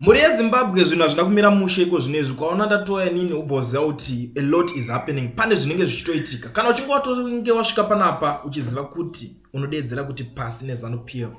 Mhuri yeZimbabwe zvinhu hazvina kumira mushe iko zvino izvi kwaona ndatouya nini ubva uziva kuti a lot is happening pane zvinenge zvichitoitika kana uchinge watonge wasvika panapa uchiziva kuti unodeedzera kuti pasi nezanu p f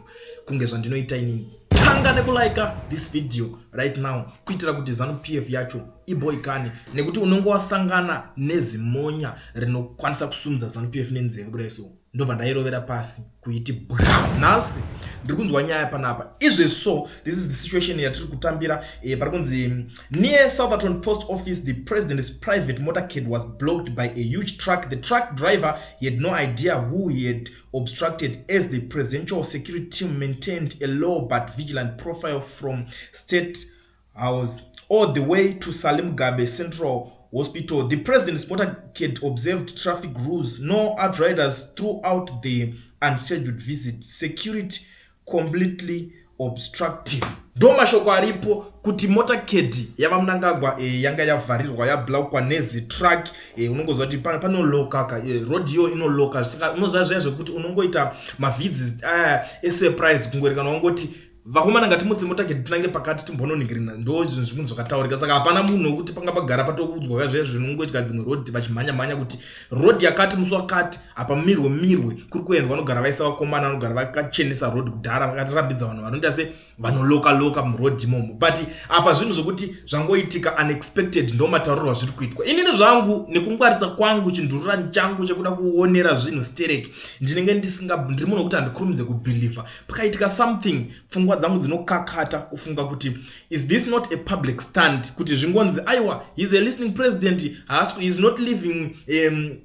kunge zvandinoita inini tanga nekulaika this video right now kuitira kuti zanu p f yacho iboikane nekuti unenge wasangana nezimonya rinokwanisa kusumudza zanu p f nenzeve kudai so ndobva ndairovera pasi kuiti bwam nhasi ndiri kunzwa nyaya panapa izve so this is the situation yatiri kutambira eh, pari kunzi mm, near southerton post office the president's private motorcade was blocked by a huge truck the truck driver he had no idea who he had obstructed as the presidential security team maintained a low but vigilant profile from state I was all the way to Salim Gabe Central Hospital. The president's motorcade observed traffic rules, no outriders throughout the unscheduled visit. Security completely obstructive ndo mashoko aripo kuti motorcade yavamunangagwa e, eh, yanga yavharirwa yablaukwa nezitruck e, eh, unongoziva kuti panolokaka e, eh, road iyo inoloka saka unoziva zviya zvekuti unongoita mavizi aya esurprise kungoerekana wangoti vakomana ngatimutse motake tinange pakati timbononingirina ndo zvinhu zvikunhu zvakataurika saka hapana munhu wekuti panga pagara patokuudzwa ka zviya zvinongoitika dzimwe road vachimhanya mhanya kuti road yakati musi wakati apa mirwe mirwe kuri kuendwa vanogara vaisa vakomana vanogara vakachenesa road kudhara vakatirambidza vanhu vanoita se vanoloka loka muroad imomo but apa zvinhu zvokuti zvangoitika unexpected ndo mataurirwa zviri kuitwa inini zvangu nekungwarisa kwangu chindururani changu chekuda kuonera zvinhu sterek ndinenge ndisinga ndiri munhu wekuti handikurumidze kubhilivha pakaitika something pfungwa dzangu dzinokakata kufunga kuti is this not a public stand kuti zvingonzi aiwa heis a listening president haasi is not living um,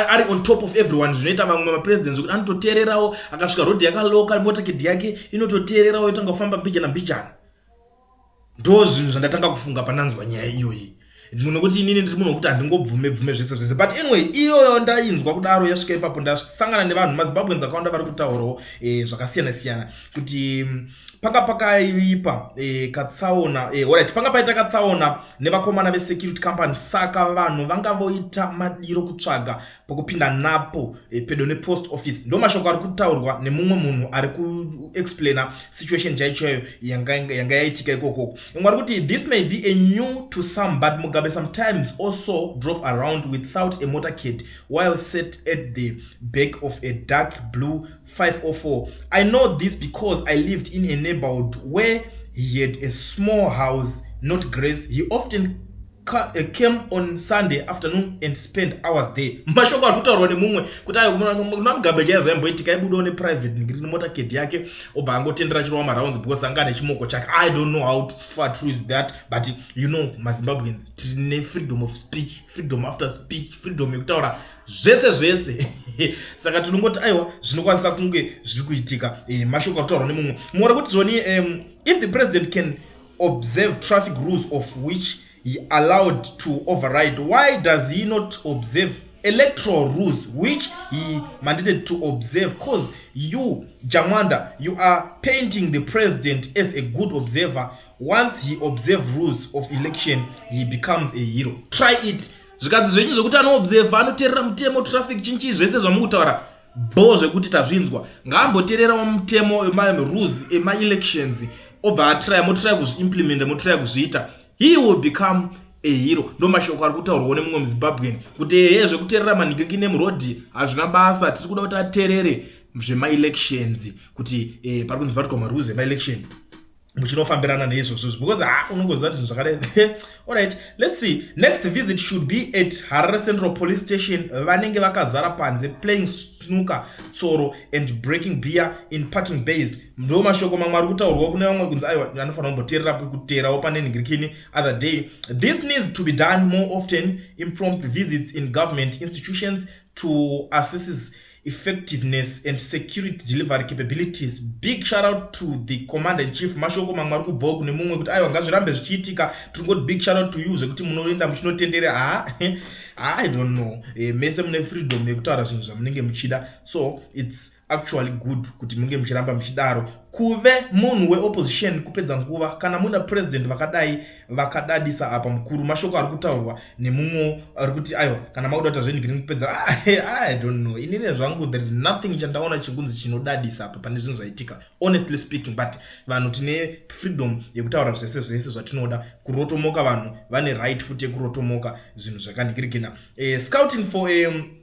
ari on top of everyone zvinoita vamwe mapresident zvekuti anototeererawo akasvika rodhi yakaloka motakidhi yake inototeererawo yotanga kufamba mbijana mbijana ndo zvinhu zvandatanga kufunga pananzwa nyaya iyoyi nokuti inini ndiri munhu wekuti handingobvume bvume zvese zvese but anyway iyoyo ndainzwa kudaro yasvika ipapo ndasangana nevanhu mazimbabweans akawanda vari kutaurawo e, zvakasiyana siyana kuti mm, panga pakaipa e, katsaona e, orit panga paita katsaona nevakomana vesecurity company saka vanhu vanga voita madiro kutsvaga pokupinda napo eh, pedo nepost office ndo mashoko ari kutaurwa nemumwe munhu ari kuexplaina situation chaichoyo yanga yaitika ikokoko imwe ari kuti this may be a new to some but mugabe sometimes also drove around without a motor cad while set at the back of a dark blue 504 i know this because i lived in a neighborhood where he had a small house not grace he often Eh, came on sunday afternoon and spent hours there mashoko ari kutaurwa nemumwe kuti ayonamugabe chaiva zvayamboitika aibudawo neprivate nemota ked yake obva angotendera chirova marounds because anga ane chimoko chake i don't know how far true is that but you know mazimbabweans tine freedom of speech freedom after speech freedom yekutaura zvese zvese saka tinongoti aiwa zvinokwanisa kunge zviri kuitika eh, mashoko akutaurwa nemumwe mora kuti zvoni um, if the president can observe traffic rules of which he allowed to override why does he not observe electoral rules which he mandated to observe cause you jamanda you are painting the president as a good observer once he observe rules of election he becomes a hero try it zvikadzi zvenyu zvekuti anoobserva anoterera mutemo traffic chinchii zvese zvamukutaura bho zvekuti tazvinzwa ngaambotererawo mutemo emarules emaelections obva atraya motraya kuzviimplimenta motraya kuzviita he will become ehiro ndo mashoko ari kutaurwawo nemumwe muzimbabwen kuti ehe zvekuterera manhikiki nemurodi hazvina basa tisi kuda kuti aterere zvemaelections kuti eh, pari kunzi vatwa marules emaelection muchinofambirana neizvozvo izvi because ha unongoziva kuti zvinhu zvakadai allright let's see next visit should be at harare central police station vanenge vakazara panze playing snooker tsoro and breaking beer in parking base ndo mashoko mamwe ari kutaurwa kune vamwe kunzi aiwa anofanira kumboteerera kuteerawo pane nhingirikini other day this needs to be done more often impromped visits in government institutions to assisses uh, effectiveness and security delivery capabilities big shout out to the commander in chief mashoko mamwe ari kubvawo kune mumwe kuti aiwa ngazvirambe zvichiitika tiri ngoti big shout out to you zvekuti munoenda muchinotenderera ha i don't know e, mese mune freedom yekutaura zvinhu zvamunenge muchida so its actually good kuti munge muchiramba muchidaro kuve munhu weopposition kupedza nguva kana muna president vakadai vakadadisa apa mukuru mashoko ari kutaurwa nemumwewo ari kuti aiwa kana makuda kuita zvenyu giri kupedza ah, i don't know inini zvangu there is nothing chandaona chikunzi chinodadisa apa pane zvinhu zvaitika honestly speaking but vanhu tine freedom yekutaura zvese zvese zvatinoda kurotomoka vanhu vane right futi yekurotomoka zvinhu zvakandigirigina eh, scouting for um,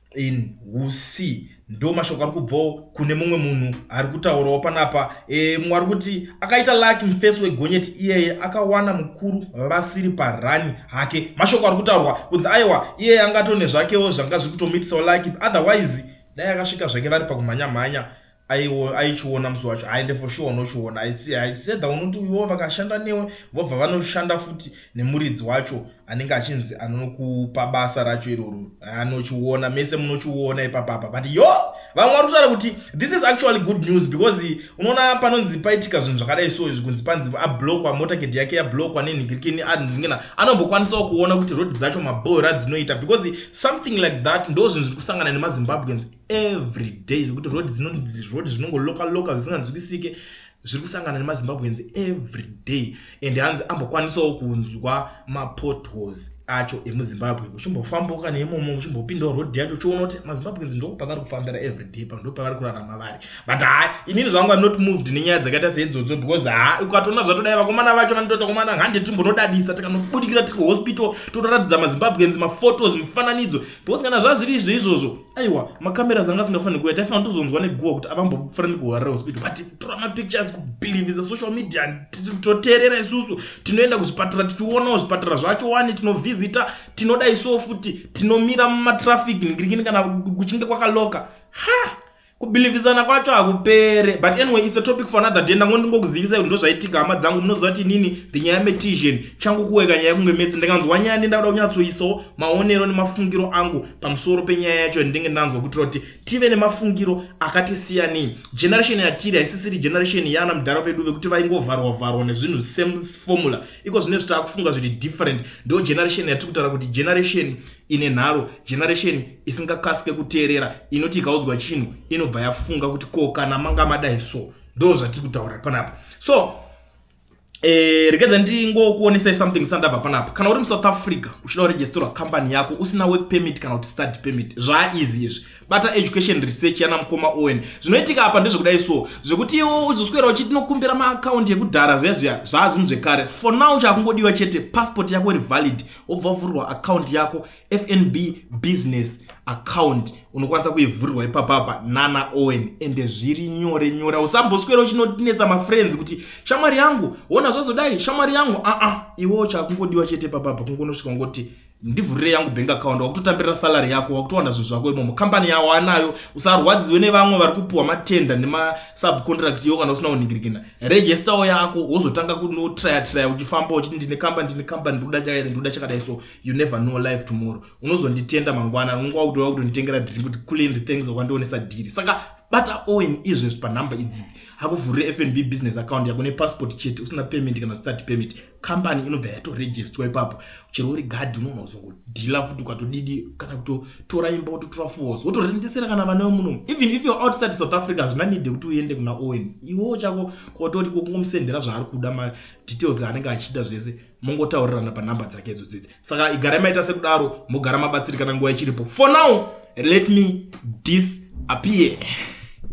in husi ndo mashoko ari kubvawo kune mumwe munhu ari kutaurawo panapa e, mumwe ari kuti akaita laki mufesi wegonyeti iyeye akawana mukuru vasiri parani hake mashoko ari kutaurwa kunzi aiwa iyeye angatone zvakewo zvanga zviri kutomuitisawo laki otherwise dai akasvika zvake vari pakumhanyamhanya aichiona musi wacho aende for sure unochiona aiseda unoti uyoo vakashanda newe vobva vanoshanda futi nemuridzi wacho anenge achinzi anokupa basa racho iroro anochiona mese munochiona ipapapa but yo vamwe vari kutaura kuti this is actually good news because unoona panonzi paitika zvinhu zvakadai so izvi kunzi panzi ablokwa motorcade yake yablokwa nenhigirikini anhingina anombokwanisawo kuona kuti road dzacho maboora dzinoita because something like that ndo zvinhu zviri kusangana nemazimbabweans every day zvekuti road road zvinongoloka loka zvisinganzwisike zviri kusangana nemazimbabweans every day and hanzi ambokwanisawo kunzwa mapotholes acho emuzimbabwe uchimbofamboka neimomo uchimbopindawo road yacho uchiona kuti mazimbabweans ndoo pavari kufambira every day pa ndo pavari kurarama vari but ha inini zvangu am not moved nenyaya dzakaita seidzodzo because ha ukatoona zvatodai vakomana vacho vanotota komana hande timbonodadisa tikanobudikira tiri kuhospital totoratidza mazimbabweans maphotos mifananidzo because kana zvazviri izvo izvozvo aiwa makamera dzanga asingafaniri kuya taifanira tozonzwa neguva kuti avambofana nekuhwarira hospital but tora mapictures kubhilivhisa social media toteerera isusu tinoenda kuzvipatara tichionawo zvipatara zvacho wani tinovhizita tinoda isuwo futi tinomira mumatraffic ngirikini kana kuchinge kwakaloka ha kubhilivhisana kwacho hakupere but anyway its a topic for another day ndangondingokuzivisai kuti ndozvaitika hama dzangu munoziva kuti inini ndinyaya metizhen changu kuweka nyaya kunge metsi ndikanzwa nyaya ndi ndakuda kunyatsoisawo maonero nemafungiro angu pamusoro penyaya yacho yandinenge ndanzwa kutira kuti tive nemafungiro akati siyanei generation yatiri haisisiri generation yaana mudhara vedu vekuti vaingovharwa vharwa nezvinhu same formula iko zvine zviti akufunga zviri different ndo generation yatiri kutaura kuti generation ine nharo generation isingakasike kuteerera inoti ikaudzwa chinhu inobva yafunga kuti ko kana manga madai so ndo zvatiri kutaura panapa so Eh, rekedza ndingokuonesai something sandabva panapa kana uri musouth africa uchida kuregisterwa company yako usina work permit kana kuti study permit zvaaeasy izvi bata education research yana mukoma owen zvinoitika apa ndezvekudai so zvekuti iwo uzoswera uchiti nokumbira maakaunti ekudhara zviya zviya zvaa zvinhu zvekare for now chaakungodiwa chete passport yako iri valid wobva wavhurwa akaunti yako fnb business account unokwanisa kuivhurirwa ipapapa nana owen ende zviri nyore nyore usamboswera uchinonetsa mafriends kuti shamwari yangu wona zvazodai shamwari yangu aa iwewo chakungodiwa chete papapa kungonosvika ungoti ndivhurire yangu bank account wakutotambirira salary yako wakutowana zvinhu zvako imomo kambani yawo anayo usarwadziwe nevamwe vari kupuhwa matenda nemasubcontract yo kana usina kunhingirikina registao yako wozotanga kunotraya traya uchifamba uchiti ndine kambani ndine kambani ndikuda chakaita ndikuda chakadai so you never know life tomorrow unozonditenda mangwana unenge wakutoa kutonditengera dhiri kuti kulendi thanks wakandionesa dhiri saka bata owen izvezvi panhamba idzidzi hakuvhurire fnb business account yako nepassport chete usina payment kana start payment kambani inobva yatorejistwa ipapo chero uri gadhi unoona uzongodhila futi ukatodidi kana kutotora imba wototora fos wotorendesera kana vana vemunomu even if you're outside south africa hazvina nide kuti uende kuna owen iwewo chako kototi kokungomusendera zvaari kuda madetails anenge achida zvese mongotaurirana panhamba dzake idzo dzidzi saka igarai maita sekudaro mogara mabatsirikana nguva ichiripo for now let me disappear